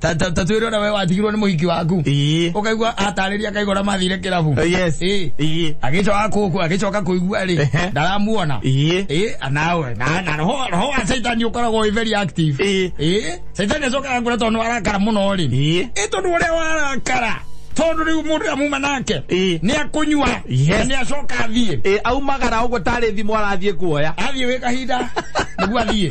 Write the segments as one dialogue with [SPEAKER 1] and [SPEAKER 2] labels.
[SPEAKER 1] Ta- ta- ta twĩre ona we watigirwo nĩ mũhiki waku Ii. ũkaigua atarĩria akaigora mathire kĩrabu Eh, yes. Ĩ. Ii.
[SPEAKER 2] agĩcoka kũku
[SPEAKER 1] agĩcoka kũigua Ehe. rĩ ndaramuona Ii. Ĩ, nawe na na roho roho wa caitani ũkoragwo wĩ very active Ĩ. Ĩ, caitani acokaga ngũra tondũ arakara mũno rĩ Ii. ĩ tondũ ũrĩa warakara tondũ rĩu mũndũ ũrĩa muma nake Ĩ. nĩ akũnyua Yes. na nĩ acoka athiĩ Eh, aumagara ũguo tarĩ
[SPEAKER 2] thimũ arathiĩ kuoya athiĩ wĩ kahinda
[SPEAKER 1] nĩguo athiĩ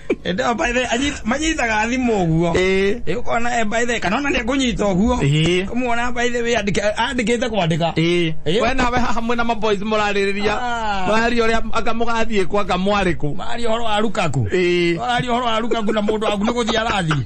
[SPEAKER 1] Ende o by the anyit manyitaga thimũ ũguo. Eh. Ĩ ũkona e by the kana ona nĩ kũnyita ũguo. Eh. Kũmuona by the way andike andikite kwandika. Eh. Eh. we nawe haha mwina maboys muraririria Ah. muraria uria anga mugathiĩ kwa anga mwarĩ kũ Mari horo arukaku. Eh. Mari horo arukaku na mũndũ waku nĩ gũthiĩ arathi.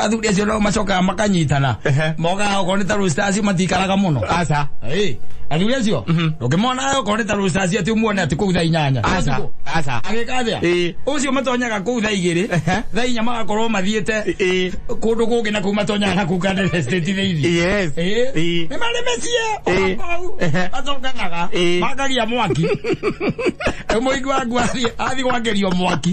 [SPEAKER 1] athuri acio no macokaga makanyitana Ehe. mokaga okorwo nĩ ta rũstaci matikaraga mũno aca Ĩĩ,
[SPEAKER 2] athuri acio
[SPEAKER 1] ũkĩmona okorwo nĩ ta rũstaci atĩ umuone atĩ kũu thaa inyanya aca aca
[SPEAKER 2] agĩka atĩa Ĩĩ.
[SPEAKER 1] ũcio matonyaga kũu thaa igĩrĩ Ehe. thaa inya magakorwo mathiĩte Ĩĩ. kũndũ kũngĩ na kũu matonyaga na kũu kandere state thĩinĩ yes Ĩĩ. Ĩĩ.
[SPEAKER 2] nĩ marĩ
[SPEAKER 1] mĩciĩ Ĩĩ. okou Ehe. macokanaga Ĩĩ. makagia mwaki mũingĩ waku athiĩ athiĩ gwakerio mwaki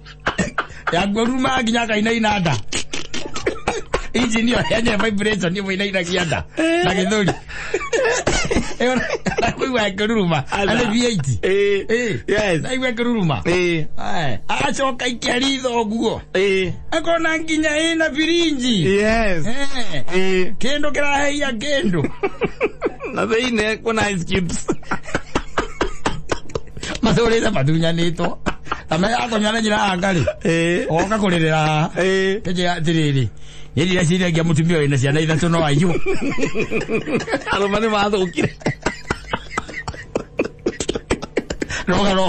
[SPEAKER 1] ya ngoruma nginya kainaina nda injini ĩyo yenye vibration ĩmwe inainagia nda na gĩthũri Ĩyo na- na kũigua ngĩruruma Ala. arĩ V8 Eh, Eh, yes.
[SPEAKER 2] naigua ngĩruruma
[SPEAKER 1] Eh, Aye. acoka ikĩaritha ũguo eh, akona nginya ĩna birinji yes. Eh, Eh, kĩndũ kĩraheia kĩndũ na
[SPEAKER 2] thĩinĩ kuna ice cubes
[SPEAKER 1] mathurire matunyanĩtwo na me akonywa na njĩra ya ngarĩ Eh. oka kũrĩrĩra haha Eh. kĩnjĩra atĩrĩrĩ nĩ ndireciria ngia mũtumia wĩna ciana ithatũ no aiyũ
[SPEAKER 2] arũme nĩ mathũkire
[SPEAKER 1] roga ro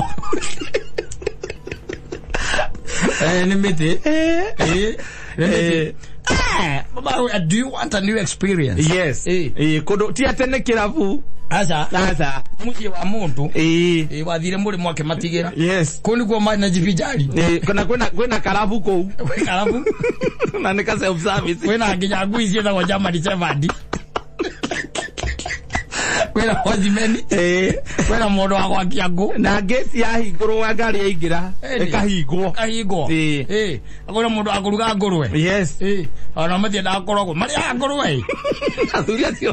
[SPEAKER 1] Eh, nĩ mĩtĩ Eh. Eh, Eh, baba, uh, do you want a new experience? yes Eh. Eh,
[SPEAKER 2] kundu ti ate ni kirabu Aca, sasa muciĩ wa mũndũ
[SPEAKER 1] Eh, eh, wathire mũrĩmo akĩmatigĩra yes kũu nĩkuo marĩ
[SPEAKER 2] na njibinjari
[SPEAKER 1] Eh, kana kwina kwina
[SPEAKER 2] karabu kuu karabu
[SPEAKER 1] na nika
[SPEAKER 2] self service kwĩna nginya ngui ciĩtagwo
[SPEAKER 1] jamani sevandi kwĩna hojimeni Eh, kwĩna mũndũ wa gwakia ngũ na ngĩti yahingũrwo
[SPEAKER 2] wa ngari yaingĩra Ĩndĩ. ĩkahingwo kahingwo Ĩĩ.
[SPEAKER 1] Ĩĩ. kwĩna mũndũ wa kũruga ngũrwe yes Ĩĩ.
[SPEAKER 2] ona matiendaga
[SPEAKER 1] kũrogwo marĩaga ngũrwe ĩ. athuri acio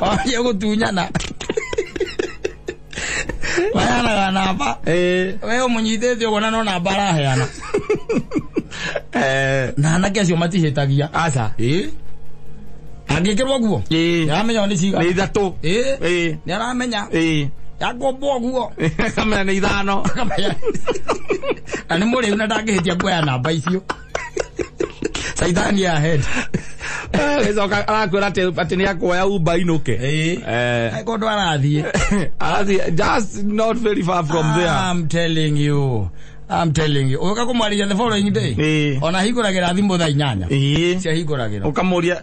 [SPEAKER 1] 哦，有個短人啊！Vaya na ganapa. Eh. Wewe munyite tyo bona no na bara heana. Eh. Na na kesi omati hetagia. Asa.
[SPEAKER 2] Eh.
[SPEAKER 1] Agikirwa guo. Eh. Yamenya ni chiga. Ni ithatũ. Eh. Eh.
[SPEAKER 2] Ni aramenya.
[SPEAKER 1] Eh. Yakombwo guo. Akamenya ni ithano.
[SPEAKER 2] Akamenya.
[SPEAKER 1] Na ni mũrĩu na ndangĩhĩtia kuoya namba icio. caithani ya head gĩcoka
[SPEAKER 2] arakwĩra atĩ atĩ nĩ akuoya umba inũke Eh. Eh, Ai, kũndũ
[SPEAKER 1] arathiĩ arathiĩ- just
[SPEAKER 2] not very far from there I'm telling
[SPEAKER 1] you. I'm telling you. Ũka kũmwarĩria the following day. Eh. Ona hingũragĩra thimũ thaa inyanya. Ĩĩ. Cia hingũragĩra. ukamuria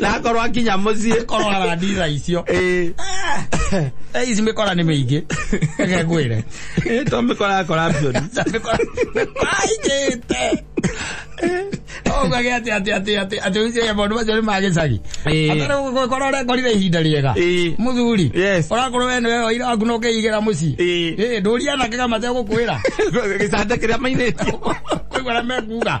[SPEAKER 2] na akorwo akinya muciĩ korora ndira
[SPEAKER 1] icio Eh, Eh, ici mikora ni miingi reke ngwire eh, to mikora
[SPEAKER 2] akora bioni
[SPEAKER 1] kwaigite ogage ati ati ati ati ati ucio maundu macio ni ma gicagi Eh. atarigukora urekorire ihinda riega Eh. muthuri Yes. urakorwo we niwe waira waku no keigera mucii Eh. Eh, ndũria anake kama tegũkwĩra gicanda kiria
[SPEAKER 2] mainite koigua na
[SPEAKER 1] mekuga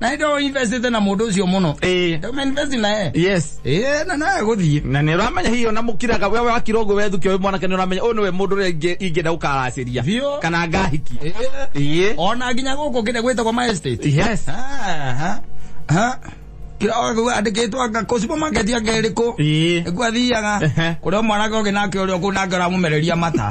[SPEAKER 1] na ndo investite na mundu ucio muno Eh. ndo invest na ye yes eh na naye guthii na nä ramenya hihi ona
[SPEAKER 2] må kiraga we wakira å guo wethukä å mwanake nä ramenya å nä we må ndå rä ingä nda gå karacä ria Biũ. kana ngahiki eh Iye. ona
[SPEAKER 1] nginya guku kinde gwitagwo my estate yes Aha. Aha. kira ogu andikitwo anga ku supermarket anga iriku Ĩĩ. nĩguo athiaga Ehe. kũrĩa mwanake ũngĩ nake ũrĩa ũkũ nake ũramumereria mata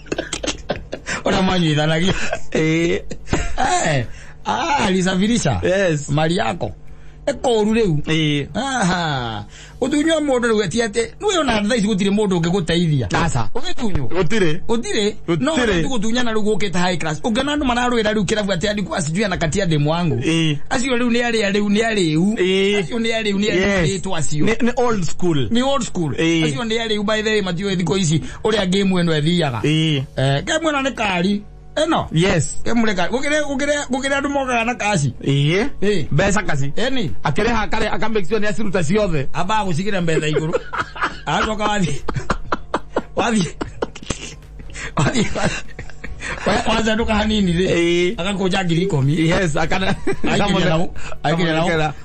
[SPEAKER 1] ona mwanyuithanagia Eh, Eh, ah, alisafirisha Yes. mali yako ekoru riu eh, Aha. utunywa mundu riu ati ati niwe ona thaa ici gutire mundu ungiguteithia Aca. ugitunywo gũtirĩ utire no Gũtirĩ. tu gutunyana riu gukite high class ungena andu mararwira riu kirabu ati andiku asijui anakatia demu wangu Eh. acio riu ni aria riu ni ariu Eh. acio ni ariu ni Yes. ariu acio Ni- ni old school
[SPEAKER 2] ni old school Eh. acio
[SPEAKER 1] ni ariu by the way matiwe thiko ici uria game eno ethiaga Ĩĩ. eh game eno ni kari eno yes game ni kari
[SPEAKER 2] gukire gukire
[SPEAKER 1] gukire andu mokaga na kaci Ĩĩ. Ĩĩ. mbeca
[SPEAKER 2] kaci eni akĩrĩha akare
[SPEAKER 1] akamake
[SPEAKER 2] sure nĩ aciruta ciothe aba gucikira mbetha
[SPEAKER 1] iguru acoka wathi wathi wathi wazenduka hanini ri Ĩĩ. agakunja ngiri ikumi yes akana
[SPEAKER 2] Aikinya nau- aikinya nau. Akamwĩkĩra.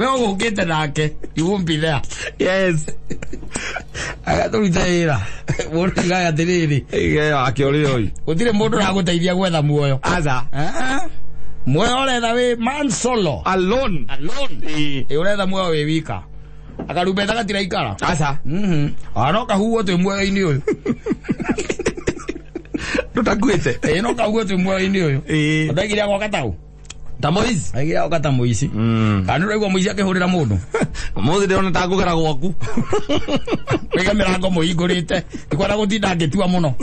[SPEAKER 1] we ugukite nake you won't be there yes
[SPEAKER 2] agatũruta
[SPEAKER 1] wĩra mũndũ igaga atĩrĩrĩ Igeo akĩũrĩra ũyũ
[SPEAKER 2] gũtirĩ mũndũ ũragũteithia
[SPEAKER 1] gwetha muoyo aza Ah, muoyo ũretha wĩ man solo alone
[SPEAKER 2] alone Ĩ, ĩ
[SPEAKER 1] ũretha muoyo wĩ wika akarumbeta gatira ikara aza Mhm.
[SPEAKER 2] Ah, no
[SPEAKER 1] kahuguo twĩ muoyo-inĩ ũyũ
[SPEAKER 2] tũtakuĩte ĩ no kahuguo twĩ
[SPEAKER 1] muoyo-inĩ ũyũ Ĩ. ũtaikiria gwaka tau ta moici
[SPEAKER 2] agira oka ta moici
[SPEAKER 1] Mm. kana nä moici akä hå rä ra må ndå Mũthĩ ndĩrona ta
[SPEAKER 2] ngũgera gwaku.
[SPEAKER 1] wä ga mä rango må hingå rä te nä kwenda gå tinda ngä tua må no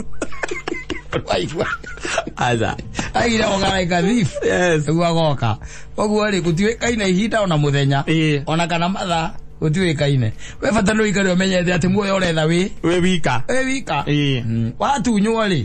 [SPEAKER 1] waigua
[SPEAKER 2] Aja. aigire
[SPEAKER 1] ogaraika thief Yes. nĩguo agoka koguo rĩ gũtiũĩkaine ihinda ona mũthenya Ĩĩ. ona kana mathaa gũtiũĩkaine we bata nĩ ũikare ũmenyete atĩ muoyo ũretha wĩ Wĩ wika. wĩ wika
[SPEAKER 2] Ĩĩ. Mm,
[SPEAKER 1] watunywo rĩ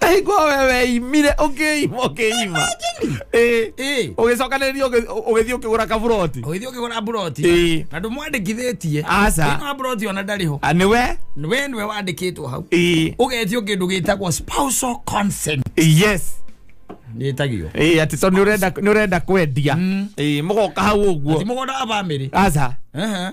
[SPEAKER 2] Ä hingo a we weimire å kä ima å kä ima Ä, Ĩ. å gä cokanä å gä thiä å kä gå ra kaburoti ũgĩthiĩ ũkĩgũra mburoti
[SPEAKER 1] Ĩ. na ndũmwandĩkithĩtie Aca. Thĩinĩ wa mburoti
[SPEAKER 2] ona ndarĩ ho
[SPEAKER 1] nä we we nĩwe wandĩkĩtwo hau Ĩ, ũgetio kĩndũ gĩtagwo spousal consent yes
[SPEAKER 2] nĩtagio
[SPEAKER 1] Ä, atä tondå
[SPEAKER 2] nä å renda kwendia Ä, må goka hau å guo mũgũnda wa bamĩrĩ
[SPEAKER 1] aca Ehe.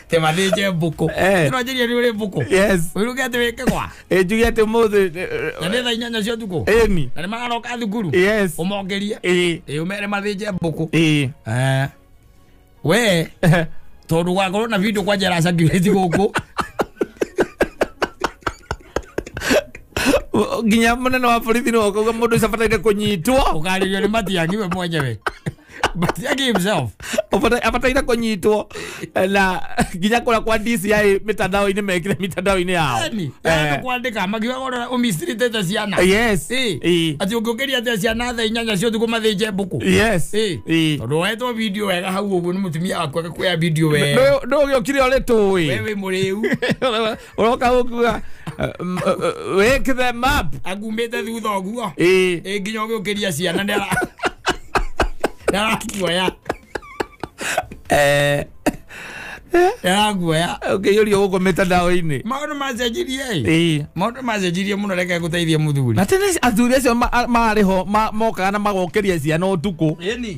[SPEAKER 1] te mathĩnje mbũkũ Eh. ĩno njĩria nĩ ũrĩ mbũkũ yes ũiruge atĩ
[SPEAKER 2] wĩke kwa
[SPEAKER 1] njuge atĩ mũthĩ
[SPEAKER 2] na nĩ thaa inyanya
[SPEAKER 1] cia ũtukũ ĩni na nĩ magaroka
[SPEAKER 2] thukuru
[SPEAKER 1] yes ũmongerie
[SPEAKER 2] ĩĩ
[SPEAKER 1] ĩĩ ũmere mathĩnje mbũkũ ĩĩ Eh, we tondå gwakorwo na video kwanja racakireti gå kå
[SPEAKER 2] nginya mũnene wa borithi nĩ woka uga mũndũ ũcio abataire kũnyitwo å karä rio nä matiangiwe
[SPEAKER 1] mwenyewe but yake himself abataira
[SPEAKER 2] kũnyitwo na nginya kũrĩa kwa dci mĩtandao-inĩ mekire mĩtandao-inĩ yao yani Eh, yani kwandika
[SPEAKER 1] makiwa ora umisirite ta ciana yes Eh,
[SPEAKER 2] Eh, ati ungiukiria
[SPEAKER 1] te ciana tha inyanya cio thuko mathinje mbuku yes Eh,
[SPEAKER 2] Eh. tondu wetwo
[SPEAKER 1] video wega hau uguo ni mutumia waku agakuoya video wega ndå gä å kire å rä
[SPEAKER 2] tå ä wewe muriu
[SPEAKER 1] uroka
[SPEAKER 2] gukuga wake them up agumĩte thutha ũguo
[SPEAKER 1] Eh. Ĩ, nginya ũgĩũkĩria ciana nĩ ara- nĩ arakuoya Eh, nĩ arakuoya ũkĩiyũria gũkũ
[SPEAKER 2] mĩtandao-inĩ maũndũ macenjirie
[SPEAKER 1] ĩ. Eh. maũndũ macenjirie mũno reke gũteithie mũthuri na tene athuri acio
[SPEAKER 2] ma- marĩ ho ma- mokaga na magokeria ciana ũtukũ ĩni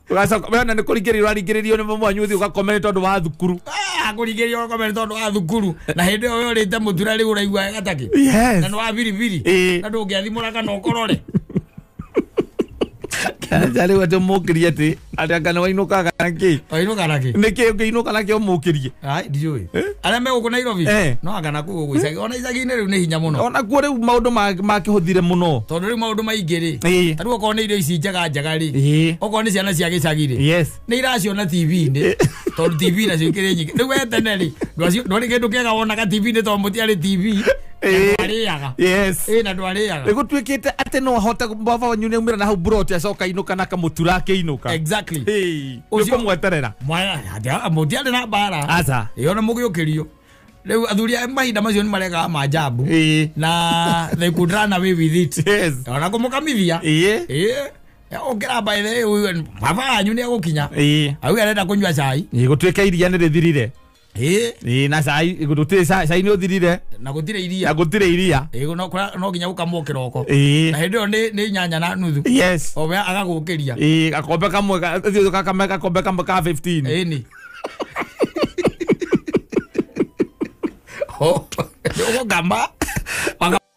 [SPEAKER 2] Ũgacoka- we ona nĩ kũringĩrĩria ũraringĩrĩrio nĩ mwanyu ũthiĩ ũgakome nĩ tondũ wa thukuru akũringĩria ũgakome
[SPEAKER 1] nĩ tondũ wa thukuru na hĩndĩ ĩyo we ũrĩte mũtura rĩu ũraigua wega takĩ na nĩ wa biribiri Ĩĩ. na ndũngĩathimũra kana ũkorore kanja
[SPEAKER 2] rĩu atĩ mũkĩrie atĩ atĩ anga nĩ wainũkaga nakĩ wainũka nakĩ nĩkĩ
[SPEAKER 1] ũngĩinũka nakĩ
[SPEAKER 2] ũmũkĩrie Ai, ndiũĩ
[SPEAKER 1] arĩa megũkũ nairobi Eh. no anga na kũu ũguo icagi ona icagi-inĩ rĩu nĩ hinya mũno ona kuo rĩu maũndũ ma-
[SPEAKER 2] makĩhũthire mũno tondũ rĩu maũndũ maingĩ
[SPEAKER 1] rĩ Ĩĩ. tarĩu okorwo nĩ irio ici njega njega rĩ Ĩĩ. okorwo nĩ ciana cia gĩcagi rĩ yes nä iraciona
[SPEAKER 2] tv-inä
[SPEAKER 1] tondå tv nacio ikärä nyingä rä u wetene rä ndwarä kä ndå kä ega wonaga tv-inä tondå må tiarä tv Ĩĩ. ndwarĩaga
[SPEAKER 2] yes ä na ndwarĩaga
[SPEAKER 1] nä gå tuä kä te atä
[SPEAKER 2] no ahote baba wanyu nä aumä ra na hau mburoti acoka inå kana akamå tura akä inå ka Exactly. Hey.
[SPEAKER 1] Ucio-
[SPEAKER 2] nĩkũmweterera
[SPEAKER 1] mũtiarĩ na mbara aca ĩyo na mũgĩũkĩrio rĩu athuri a mahinda macio nĩ maregaga manjambu Ĩĩ. na they could run away with it Yes. ona kũmũkamithia Ĩĩ. Ĩĩ. ũkĩra mbaĩre baba yanyu nĩ egũkinya Ĩĩ. au arenda kũnyua cai Ĩĩ, gũtuĩka iria nĩ
[SPEAKER 2] rĩthirire ĩ Ĩ, na cai gũtirĩ cai cai nĩ ũthirire na gũtirĩ na iria
[SPEAKER 1] gũtirĩ iria
[SPEAKER 2] Ĩ, no- kũra- no nginya gũkamwo
[SPEAKER 1] kĩroko na Ĩ, hĩndĩ ĩyo nĩ
[SPEAKER 2] nĩ nyanya
[SPEAKER 1] na nuthu yes owe
[SPEAKER 2] agagũkĩria
[SPEAKER 1] Ĩ, gakombe kamwe
[SPEAKER 2] ga- thiũ gakame gakombe kamwe ka 15 ĩni
[SPEAKER 1] ũgũkama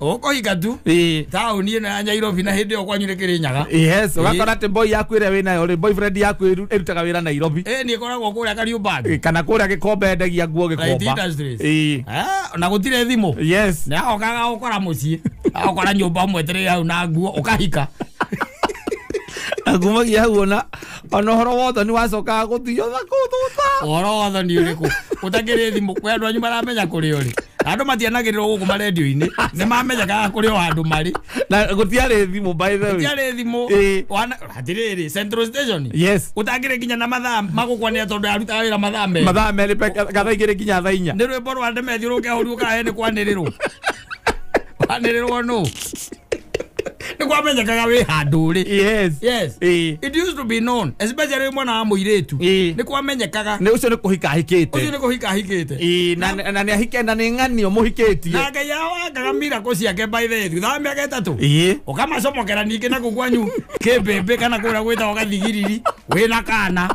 [SPEAKER 1] Ũko
[SPEAKER 2] ikatu.
[SPEAKER 1] Eh, Taũni ĩno ya Nyairobi na hĩndĩ ĩyo kwanyu nĩ Kĩrĩnyaga. yes ũgakora atĩ
[SPEAKER 2] boy yaku ĩrĩa wĩ nayo rĩ boyfriend yaku ĩru- ĩrutaga wĩra nairobi Ĩ nĩ ĩkoragwo kũrĩa
[SPEAKER 1] Kariũmbangi. Eh, kana kũrĩa gĩkombe
[SPEAKER 2] endagia nguo Right gĩkomba industries. Eh, Ah,
[SPEAKER 1] na gũtirĩ thimũ. yes Nĩ ahokaga
[SPEAKER 2] gũkora
[SPEAKER 1] mũciĩ. Agakora nyũmba mwetereire hau na nguo ũkahika.
[SPEAKER 2] akumagia hau ona ona horo wotho ni wacokaga guthiyo na kututa ũhoro wa ũthoni ũrĩkũ
[SPEAKER 1] ũtakĩrĩ thimũ we andũ anyu maramenya kũrĩ ũrĩ andũ matianagĩrĩrwo gũkũ marendio-inĩ nĩ mamenyaga kũrĩ o handũ marĩ na gutiarä
[SPEAKER 2] thimå by the way tiarĩ thimũ Ĩĩ.
[SPEAKER 1] wana- atĩrĩrĩ central station yes ũtangĩrĩ nginya
[SPEAKER 2] na mathaa
[SPEAKER 1] magũkwanĩra tondũ arutaga wĩra mathaa merĩ mathaa merä kana
[SPEAKER 2] igä rä nginya thaa inya nä rwä mbo rwa ndemethiå rå
[SPEAKER 1] ke hå riå kahe nä kwanä rä rwo wanĩrĩrwo nũ nĩ kwamenyekaga wĩ handũ rĩ yes yes Eh.
[SPEAKER 2] it used to be
[SPEAKER 1] known especially wĩ mwana wa mũirĩtu Eh. nĩ kwamenyekaga nä å cio nä kå hika ũcio
[SPEAKER 2] ahikite nĩ kũhika ahikĩte
[SPEAKER 1] Ii, na na nä ahike
[SPEAKER 2] na nä ng'anio må hikätie na ngai yao angaga
[SPEAKER 1] miracle ciake by the way thutha wa mĩaka ĩtatũ ii ukamacomokera ningĩ na kũ kwanyu kĩmbĩmbĩ kana kũrĩa gwĩtagwo gathigiriri wĩna kana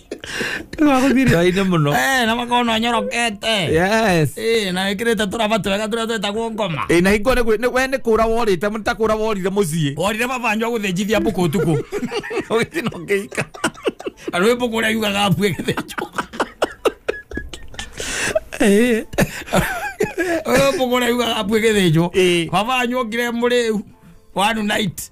[SPEAKER 2] Kaine muno. Eh, na makono
[SPEAKER 1] nyorokete. Yes. Eh,
[SPEAKER 2] na ikirete
[SPEAKER 1] turaba twega turia twetagwo ngoma. Ĩ na hingo nĩ gwĩ- nĩ- we
[SPEAKER 2] nĩ kũra worĩte mũta kũra worire mũciĩ Orire baba njwa
[SPEAKER 1] gũthĩnjithia mbũkũ ũtukũ. ũgĩthi no
[SPEAKER 2] ngĩika Andũ wĩ
[SPEAKER 1] mbũkũ ũrĩa yugaga mbu ĩgĩthĩnjwo. Ũyũ mbũkũ ũrĩa yugaga mbu ĩgĩthĩnjwo. Ĩĩ. Baba njwa ngire mũrĩu. One night.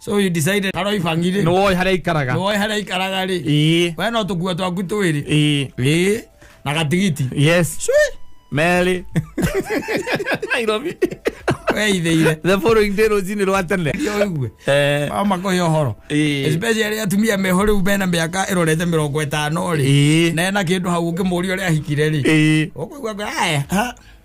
[SPEAKER 1] so you decided
[SPEAKER 2] harĩa
[SPEAKER 1] ibangire nĩ woĩ harĩa ikaraga
[SPEAKER 2] nĩwoĩ harĩa ikaraga rĩ ĩĩ we no
[SPEAKER 1] tũkua twaku twĩrĩ ĩĩ ĩĩ na gatigiti
[SPEAKER 2] yes Cui.
[SPEAKER 1] merĩ nairobi
[SPEAKER 2] weithĩire the following day rũcinĩ rwa tene ũigue Eh,
[SPEAKER 1] makohe ũhoro Ĩĩ. especially arĩa atumia meho rĩu mena mĩaka ĩrorete mĩrongo ĩtano rĩ Ĩĩ. na ena kĩndũ hau ũngĩmũria ũrĩa ahikire rĩ ĩĩ ũkũigua aya ha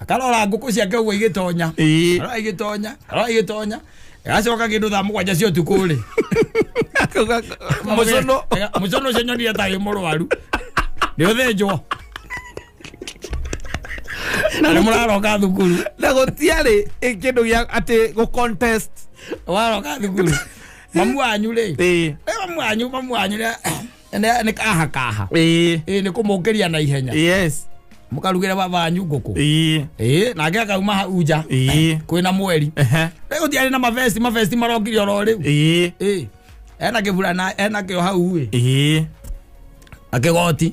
[SPEAKER 2] akarora ngũkũ
[SPEAKER 1] ciake ũguo igĩtonya Ĩĩ. arora igĩtonya arora igĩtonya agacoka kĩndũ thaa mũgwanja cia ũtukũ rĩ mũcono mũcono ũcio nyoni atagĩ mũrwaru nĩ ũthĩnjwo nĩ mũraroka thukuru na gũtiarĩ
[SPEAKER 2] ĩ- kĩndũ gĩa atĩ gũ contest waroka
[SPEAKER 1] thukuru mamu wanyu rĩ Ĩĩ. Eh, mamu wanyu mamu wanyu nĩ- Nĩ- nĩ kaha kaha ĩĩ ĩĩ nĩ kũmũngĩria na ihenya yes
[SPEAKER 2] mũkarugĩre baba
[SPEAKER 1] wanyu ngũkũ ĩĩ ĩĩ nake akauma hau nja ĩĩ kwĩna mweri ehe rĩu thiarĩ na mavesti mavesti marokire oro rĩu ĩĩ ĩĩ ena kĩbura na ena kĩo hau ĩ ĩĩ akĩgoti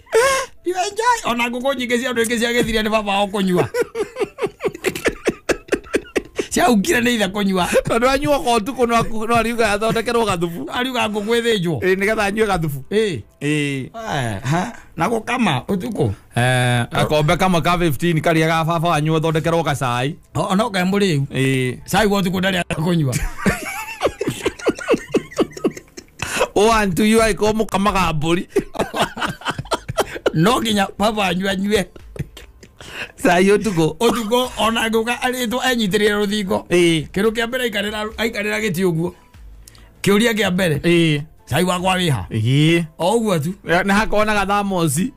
[SPEAKER 1] You enjoy. Ona ngũkũ nyingĩ cia andũ ingĩ cia gĩthiria nĩ baba wao kũnyua. Ciaungire nĩ ithe kũnyua. tondå anyua ko
[SPEAKER 2] tukå no ariuga athondekerwo gathubu Ariuga ngũkũ ĩthĩnjwo.
[SPEAKER 1] nä getha anyue gathubu
[SPEAKER 2] Ĩĩ. Eh, ha,
[SPEAKER 1] Na gũkama ũtukũ. akombe
[SPEAKER 2] kamwe ka 15 karä a ga baba wanyu athondekerwo gacai O- Ona ũkae mũrĩu.
[SPEAKER 1] Eh, Cai wa ũtukũ ndarĩ akũnyua.
[SPEAKER 2] owantuyu aika omukama gabori
[SPEAKER 1] no nginya baba wanyu anyue
[SPEAKER 2] sayi otuko ũtukũ ona ngũka
[SPEAKER 1] arĩtwo enyitĩrĩre rũthingo Ĩĩ. kĩndũ kĩa mbere aikarĩra- aikarĩra gĩtĩ ũguo kĩũria kĩa mbere Ĩĩ. cai wakwa wĩha Ĩĩ. o ũguo tu na hakona gathamosi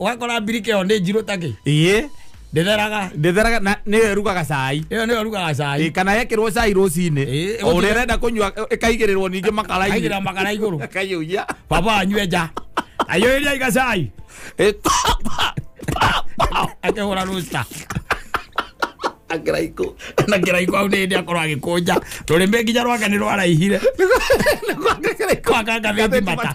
[SPEAKER 1] ũgakora mbirika ĩyo nĩ njirũ takĩ ĩĩ ndĩtheraga ndĩtheraga
[SPEAKER 2] na nĩyo ĩrugaga cai ĩyo nĩyo rugaga cai Ĩ,
[SPEAKER 1] kana yekĩrwo cai
[SPEAKER 2] rũcinĩ Ĩ, o ũrĩa ũrenda kũnyua ĩkaigĩrĩrwo ningĩ makarainĩ aigĩra makara igũrũ
[SPEAKER 1] ĩkaiyũia baba
[SPEAKER 2] anyue nja
[SPEAKER 1] aiyũrĩria iga cai Ĩ, pa, pa, pa, pa. akĩhũra rũsta akĩraikũ
[SPEAKER 2] na kĩraiko hau nĩ
[SPEAKER 1] hĩndĩ akorwo agĩkũnja rũrĩmĩ nginya rwake nĩ rwaraihire Nĩ kwa- nĩ kĩraikũ. kwakanga thĩti mata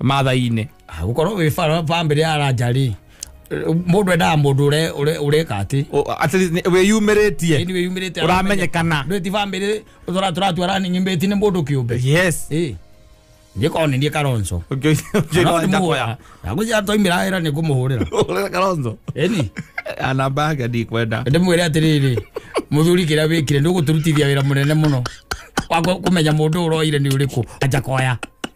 [SPEAKER 2] mathai-inĩ Ah, gukorwo wi
[SPEAKER 1] bara bambiri ya raja ri mundu endaga mundu ure ure ureka ati O- at least ni- wĩyumĩrĩtie ni
[SPEAKER 2] wiyumirite Ũramenyekana. ndweti bambiri
[SPEAKER 1] utora turatua rani nyimbeti ni mundu kiumbe yes eh ndikona ndie karonso Ũngĩ- ũngĩ no ndakoya. nagucia toimira ira ni kumuhurira Ũrĩa Kalonzo. eni Ah, namba yake
[SPEAKER 2] ndikwenda ndimwire atiriri
[SPEAKER 1] muthuri kiria wikire nduguturutithia wira munene muno wa ku- kumenya mundu uroire ni uriku anja koya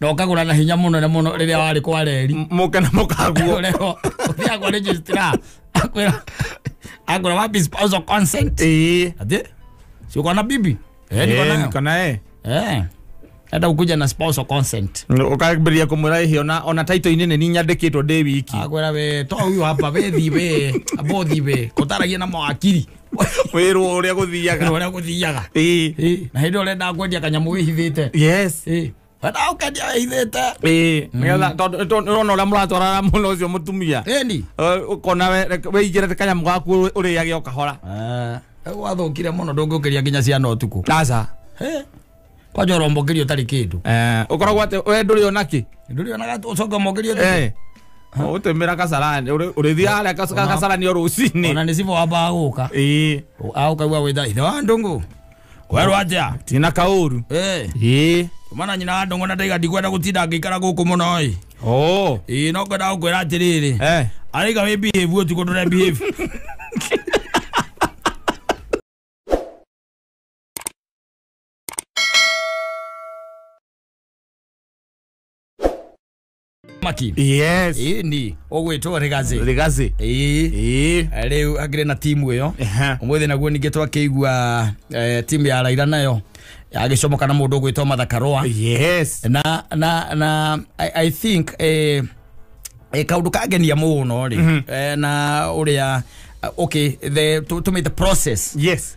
[SPEAKER 1] na ũkagũra na hinya mũnene mũno rĩrĩa warĩ kwa reri mũke na mũkaguo
[SPEAKER 2] rero ũthiaga
[SPEAKER 1] kwa registrar akwĩra akwĩra wapi spousal consent ĩĩ ati si uko na bibi eh niko Eh, nayo niko
[SPEAKER 2] naye eh hata
[SPEAKER 1] ukuja na spousal consent ũkambĩrĩria kũmwĩra
[SPEAKER 2] ĩhĩ ona ona taito-inĩ nĩ ninyandĩkĩtwo ndĩ wiki akwĩra we to huyu
[SPEAKER 1] hapa we thi we abothi we kũtaragia na mawakiri wĩrwo ũrĩa
[SPEAKER 2] gũthiaga ũrĩa gũthiaga Ĩĩ. Ĩĩ, na hĩndĩ ĩyo ũrenda kwendia
[SPEAKER 1] kanyamũ wĩhithĩte yes Ĩĩ,
[SPEAKER 2] wendaga ũkendia
[SPEAKER 1] wĩhithĩte Ĩĩ, nĩgetha tondũ-
[SPEAKER 2] tondũ ũrona ũrĩa mũratwarana mũno ũcio mũtumia ĩni Eh,
[SPEAKER 1] ũkona we- reke-
[SPEAKER 2] wĩigĩre kanyamũ gaku ũrĩage o kahora rĩu wathũkire
[SPEAKER 1] mũno ndũngĩũkĩria nginya ciana ũtukũ aca Hĩ, kwaja ũrombokerio ũtarĩ kĩndũ Eh, ukoragwo ati we
[SPEAKER 2] nduri ona ki ndũrĩonaga ũcoka
[SPEAKER 1] ũmbokerio Eh. utumira
[SPEAKER 2] kasarani Uri- urithiaga haria kas- Ona- kasarani o rucini ona nĩ cibo wambaga
[SPEAKER 1] gũka Ĩĩ. aũkaigua gwĩta ithe wa ndũngũ kwerwo atĩa tina kauru
[SPEAKER 2] Eh, Ĩĩ.
[SPEAKER 1] mana nyina wa ndũngũ na ndaiga ndikwenda gũtinda ngĩikara gũkũ mũno ĩ Oh. ĩĩ no kwenda gũkwĩra atĩrĩrĩ Eh. araiga wĩ behave ũtukũ ndũre behave maki yes ĩĩ
[SPEAKER 2] ni ũgwĩtwo
[SPEAKER 1] rĩgathĩ rigazi ĩĩ ĩĩ rĩu angĩrĩ na timu ĩyo Ehe. ũmũthĩ naguo ningĩ twakĩigua eh, timu ya raira nayo agĩcomoka na mũndũ ũgwĩtwo mathakarũa yes na
[SPEAKER 2] na na
[SPEAKER 1] i, I think eh, eh, kaundu kangenia muno ri eh, na uria okay the to, to make the process yes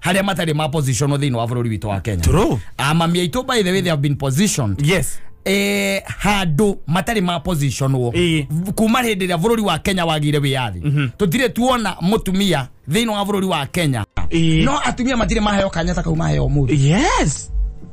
[SPEAKER 1] haria matari ma position thiini wa bururi witu wa Kenya True. amami aitu
[SPEAKER 2] by the
[SPEAKER 1] way they have been positioned yes eh
[SPEAKER 2] handu
[SPEAKER 1] matari ma position wo Ii. kuma hindi ria bururi wa Kenya wagire wiyathi tutire tuona mutumia thiini wa bururi wa Kenya Ii. no atumia matire maheo kanya ta kau maheo muthi yes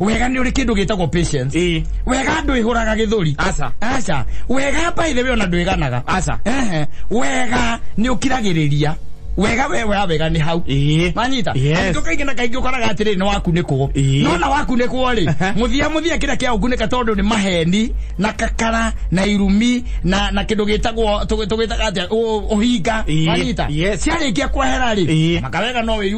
[SPEAKER 1] wega nä å rä kä ndå gä tagwo patience Ĩĩ. wega ndå ä hå raga gä thå ri Aca. aca wega mbaithe we ona ndwä ganaga Aca. Ehe.
[SPEAKER 2] wega
[SPEAKER 1] nä å kiragä rä ria wega we wa wega nä hau Ĩĩ. manyita Yes. Kaingĩ kaingĩ na kaingĩ ũkoraga atĩrĩ nĩ wakunĩkwo Ĩĩ. nona wakunĩkwo rĩ Aha. mũthia mũthia kĩrĩa kĩa ũkunĩka tondũ nĩ maheni na kakara na irumi na na kĩndũ gĩtagwo tũgĩ- tũgĩtaga atĩa ũ- ũhinga Ĩĩ. wanyita Yes. ciarĩkia kwehera rĩ Ĩĩ. makawega no wĩyu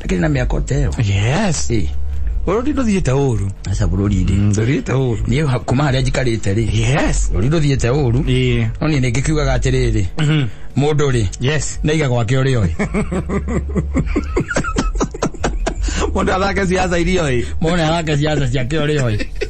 [SPEAKER 1] lakini na miaka oteo yes eh
[SPEAKER 2] rũri rũthiĩte ũru aca bũrũri-rĩ Mm,
[SPEAKER 1] rũthiĩte ũru
[SPEAKER 2] niĩ ha- kuma harĩa
[SPEAKER 1] njikarĩte rĩ yes rũri rũthiĩte ũru Ĩĩ. no niĩ nĩngĩ kiugaga atĩrĩrĩ mũndũ rĩ yes naiga gwake ũrĩ oĩ
[SPEAKER 2] mũndũ athake ciaca iria oĩ mone arake ciaca
[SPEAKER 1] ciake ũrĩ oĩ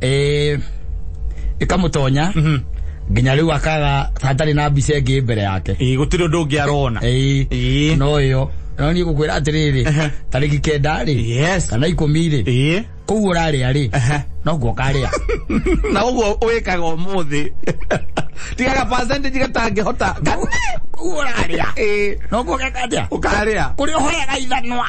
[SPEAKER 1] eh ikamutonya mhm. nginya riu akaga hatari na mbica ingi mbere yake eh gutiri undu ungi arona
[SPEAKER 2] eh, eh. no
[SPEAKER 1] yo no ni gukwira atiriri tariki kenda ri yes kana ikumi ri eh kuu uraria ri no guokaria na uguo
[SPEAKER 2] wikaga umuthi tigaga percentage gatangihota kuu
[SPEAKER 1] uraria eh. no guokaria ukaria kuri
[SPEAKER 2] uhoyaga
[SPEAKER 1] ithanwa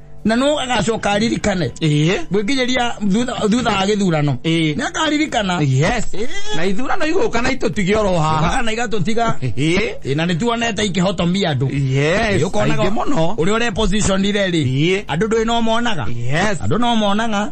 [SPEAKER 1] na no agacoka aririkane ĩĩ gwĩkinyĩria thutha- thutha wa gĩthurano Ĩĩ. nĩ akaririkana yes Ĩĩ. na
[SPEAKER 2] ithurano igũka na itũtige oro haha Oka na igatũtiga
[SPEAKER 1] ĩĩ Ĩĩ, na nĩ tuonete ikĩhotomia andũ yes Ĩĩ, ũkonaga aingĩ
[SPEAKER 2] mũno ũrĩa ũre position
[SPEAKER 1] rĩ Ĩĩ. andũ ndũĩ no monaga yes andå no monaga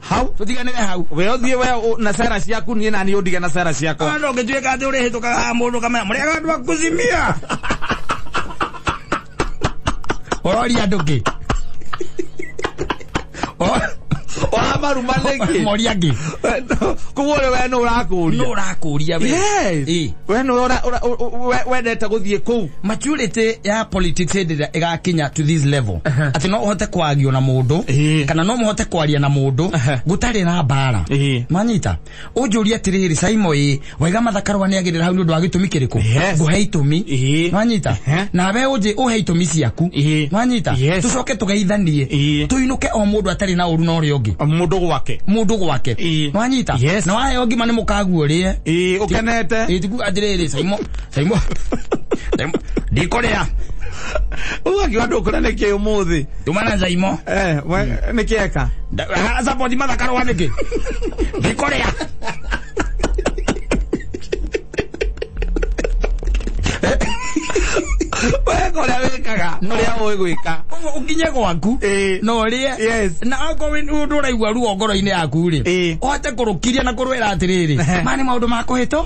[SPEAKER 1] hau tutiganire hau we uthie we u-
[SPEAKER 2] na sera ciaku nie nani undige na sera ciakwa ndo ngituika ati uri
[SPEAKER 1] hituka ha mundu kamera muri andu akuzimia orori andu ki
[SPEAKER 2] wamarume rĩngĩ mori angi
[SPEAKER 1] koguo
[SPEAKER 2] ũrĩ we nũ ũrakũria nurakuria we Yes. Eh.
[SPEAKER 1] we nũ
[SPEAKER 2] ũra- ũra- ũ- ũ- we- wendete gũthiĩ kũu maturity ya
[SPEAKER 1] politics hĩndĩ ĩrĩa ĩgakinya to this level Aha. atĩ no ũhote kwagio na mũndũ Ĩĩ. kana no mũhote kwaria na mũndũ Aha. gũtarĩ na mbara Ĩĩ. manyita ũnjũria atĩrĩrĩ caimo ĩ waiga mathakarwa nĩ agĩrĩra hau nĩ ũndũ wa gĩtũmi kĩrĩkũ Yes. ngũhe itũmi Ĩĩ. manyita Aha. nawe ũnjĩ ũhe itũmi ciaku Ĩĩ. manyita Yes. tũcoke tũgeithanie Ĩĩ. tũinũke o mũndũ atarĩ na ũru na ũrĩa ũngĩ Mũndũ gwake. mũndũ gwake Ĩĩ. manyita Yes. na waheo ngima nĩ mũkaguo rĩe Ĩĩ, ũkenete.
[SPEAKER 2] ĩtiku atĩrĩrĩ
[SPEAKER 1] caimo Taimwa. Taimwa. Ndikorea. Uyu
[SPEAKER 2] akiwa andu ukura niki umuthi. Tumana nzaimo.
[SPEAKER 1] Eh, we- niki
[SPEAKER 2] eka. Da- ha- Support
[SPEAKER 1] mathakaro wa niki. Ndikorea.
[SPEAKER 2] We kuria wikaga. Kuria uwi gwika. Ũguo ũkinye gwaku
[SPEAKER 1] Eh. na ũrĩe Yes. na akorwo nĩ ũraigua ruo ngoro-inĩ yaku rĩ Eh. ũhote kũrũkiria na kũrwĩra atĩrĩrĩ Ehe. ma nĩ maũndũ ma kũhĩtwo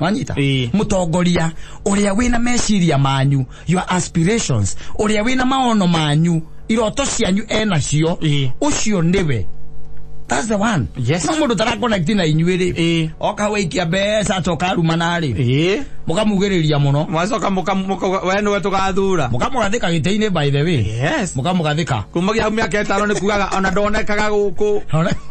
[SPEAKER 1] wanyita
[SPEAKER 2] Ĩĩ.
[SPEAKER 1] mutongoria uria wina meciria manyu your aspirations uria wina maono manyu iroto cianyu enacio Ĩĩ. ucio niwe That's the one. Yes. No mundu tarakonekti
[SPEAKER 2] na
[SPEAKER 1] inyuĩ Ĩĩ. rĩ oka waikia mbeca acoka arumana rĩ ĩĩ mukamugĩrĩria muno mwacoka mũka- mũka-
[SPEAKER 2] we nĩwe tũgathura mukamugathika gĩtĩ-inĩ
[SPEAKER 1] by the way yes mukamugathika
[SPEAKER 2] kumagia
[SPEAKER 1] hau mĩaka ĩtano
[SPEAKER 2] nĩ kugaga ona ndonekaga gũkũ Ona-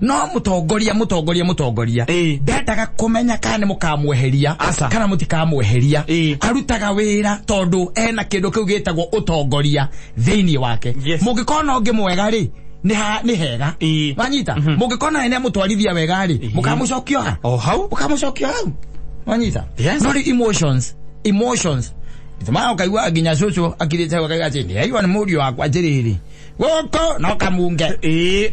[SPEAKER 1] no mutongoria mutongoria mutongoria Eh. ndendaga kumenya kana ni mukamweheria Aca. kana mutikamweheria Eh. arutaga wira tondu ena kindu kiu gitagwo utongoria thiini wake Yes. mungikona ungi mwega ri ni ha- ni hega Eh. wanyita mungikona ene mutwarithia wega ri mukamucokia ha o hau ukamucokia hau wanyita Yes. no ri emotions emotions ma ukaigua nginya cucu akirite akaiga ati ndiaigua ni murio wakwa njiriri guku no kamunge Ĩĩ.